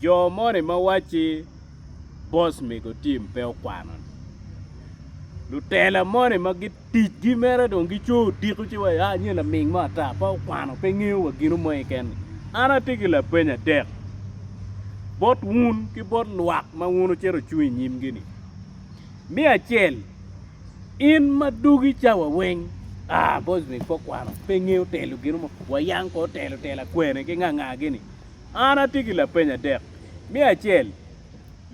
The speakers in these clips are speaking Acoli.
Jo moni ma wacci boss mego team pe okwano ni lutela moni ma ticgi mere dong gico odiko ci wa ya nyo laming mo ata pe okwano pe ngeyo wa gino mo keken ni an atye ki lapeny adek bot wun ki bot lwak ma wun wucito wucung inyimgi ni me acel In ma dugi cawa weng aa bosnic po kwano pe ngeyo telo gino mo wayang ko telo telo akwene ki nganga gini an atye ki lapeny adek me acel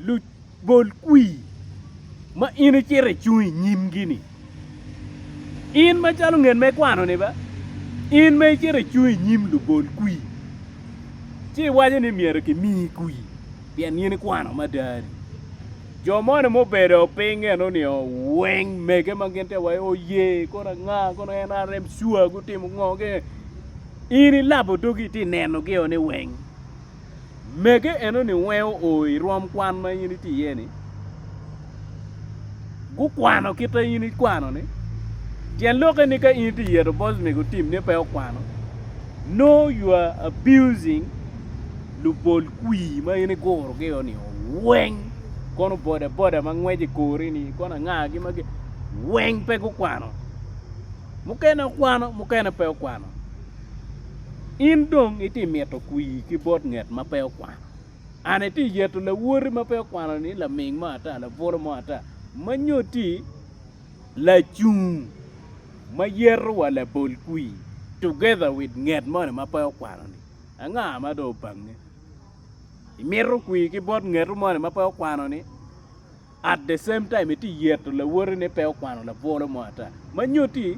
lu bol kwi ma in icito icung inyim gini in ma calo ngen me kwano ni ba in ma icito icung inyim lu bol kwi ci iwaco ni myero ki mi kwi pien in ikwano madani Jo moni mubedo piny enoni o weng mege ma gin te waye oye kono anga kono NRM sure gutimo ngo ge in ilabo dogi iti neno gi o ni weng mege enoni weng o irom kwan ma in iti iye ni gukwano kita in ikwano ni tyen lok eni ka in iti yeto bosmik otim ni pe okwano no you are abusing lubol kwir ma in igurogi-o ni weng kono bodaboda ma ngweco i kori-ni kono angagi magi weng pe gukwano mukene okwano mukene pe okwano in dong iti mito kwir ki bot nget ma pe okwano and iti yeto lawoti ma pe okwano ni laming mo ata labwolo mo ata ma nyo ti lacung ma yeto wa labol kwir together with nget moni ma pe okwano-ni anga ma dong obange? Imito kwir ki bot ngetu moni ma pe okwano ni? At the same time iti yeto lawoti ni pe okwano labolo mo ata. Ma nyuti,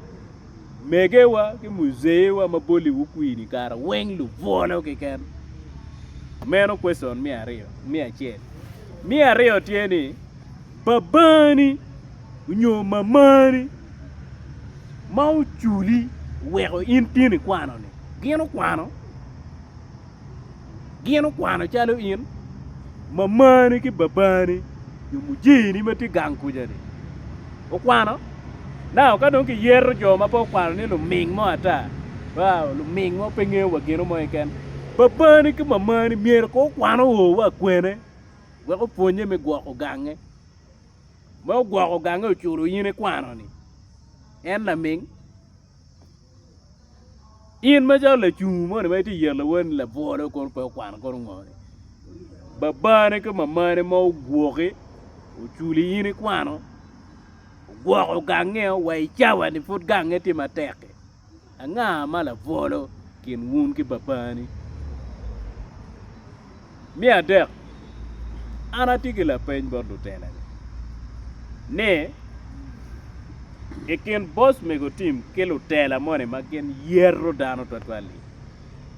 megewa ki muzeewa ma boli wu kwir ni kara weng lubolo kiken. Meno question mi aryo, mi acel. Mi aryo tye ni, Babani onyo mamani ma oculi oweko in tin ikwano ni? Gin okwano? Gin okwano calo in? Mamani ki babani nyo mujini ma tye gang kuca ni okwano? Now ka dong kiyeto jo ma pe okwano ni luming mo ata, wow luming mo pe ngeyo wa gino mo keken. Babani ki mamani myero ko okwano o wa kwene? wek opwonnye me gwoko gange. Ma ogwoko gange oculo in ikwano-ni, en laming? In macalo lacungu moni ma itye yelo lawoni labwolo kono pe okwano kono ngo-ni? Babani ki mamani ma ogwoki oculi in ikwano, ogwoko gange-o wa i cawa-ni pud gange tye matek-ki. Anga ma labwolo kin wun ki babani? Me adek, an atye ki lapeny bot lutela-ni ni, i kin bos mego tim ki lutela moni ma gin yeto dano twatwal-li,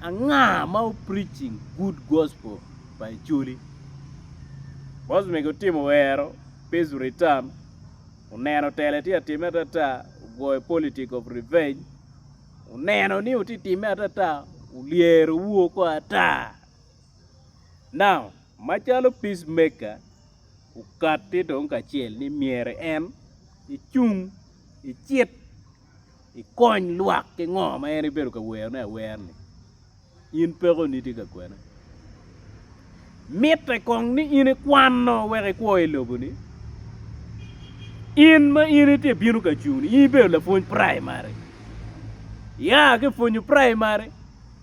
anga ma o preaching good gospel pa Acholi? Bos mego tim oero peace return. Oneno tele tye ka timme atata, ogoyo politic of revenge. Oneno ni wutye ka timme atata, olyero wu oko ata. Now, macalo peace maker, okatti dong kacel ni myero en icung, icit. ikony lwak ki ngo ma en ibedo ka werone awer ni in pekoni tye ka kwene. Mitte kong ni in ikwano wek ikwo i lobo ni. In ma in itye bino ka cung ni in ibedo lapwony praimari. Iya ki pwonyo praimari.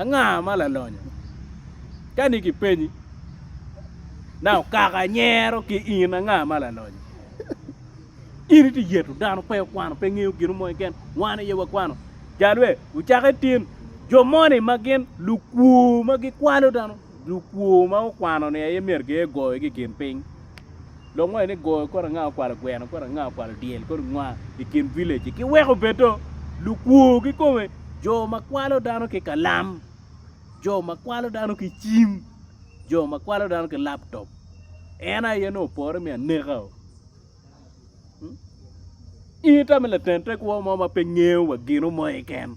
Anga ma lalonyo? Ka ni kipenyi na okaka nyero ki in anga ma lalonyo? In iti yeto dano pe okwano pe ngeyo gino mo keken wan aye wakwano jalwe ucake tin jo moni ma gin lukwo ma gikwalo dano Lukwo ma okwano ni aye myero giye goyo ki kin piny. Lok moyo ni goyo kodi nga okwalo gweno, kodi nga okwalo dyel, kodi nga i kin village. Ki weko bedo lukwo ki kome jo ma kwalo dano ki kalam, jo ma kwalo dano ki cim, jo ma kwalo dano ki laptop. En aye no opore mi aneka o. Hmm? In ita mi laten tekwo mo ma pe ngeyo wa gino mo iken.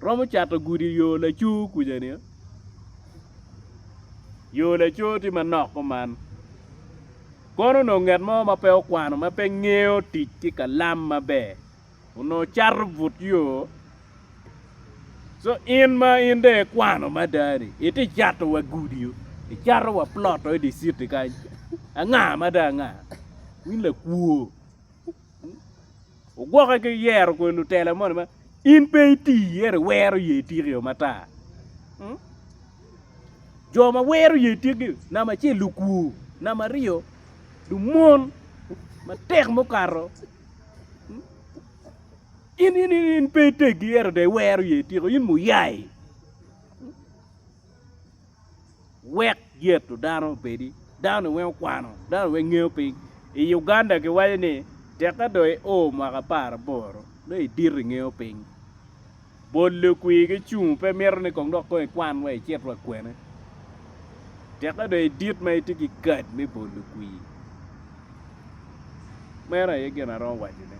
Romo cato gudi yo lacoo kuca ni. Yo lacoo tye manok kuman. Kono onongo nget mo ma pe okwano ma pe ngeyo tic ki kalam maber onongo cato but yo. Co in ma in dong ikwano mada ni iti cato wa gudi o, icato wa plot o idi city kany anga mada anga? In lakwo. Ogwoke ki yero kwede lutela moni ma in pe iti ento iwero ye itiki o matar. Hmm? Jo ma wero ye itiki namba acel lukwur, namba aryo lumon matek mukato. Hmm? In in in, in pe itegi ento de iwero ye itiko in muyai. wek yeto dano obedi dano-ni weng okwano dano-ni weng ngeyo piny i Uganda giwaco ni teka dong i o mwaka apar aboro nongo i dito i ngeyo piny bot lukwir gi cung pe mito ni kong dok kong i kwan wa i cit wa kwene teka dong i dit ma itye ki kad me bot lukwir meno aye gin aromo waco ne.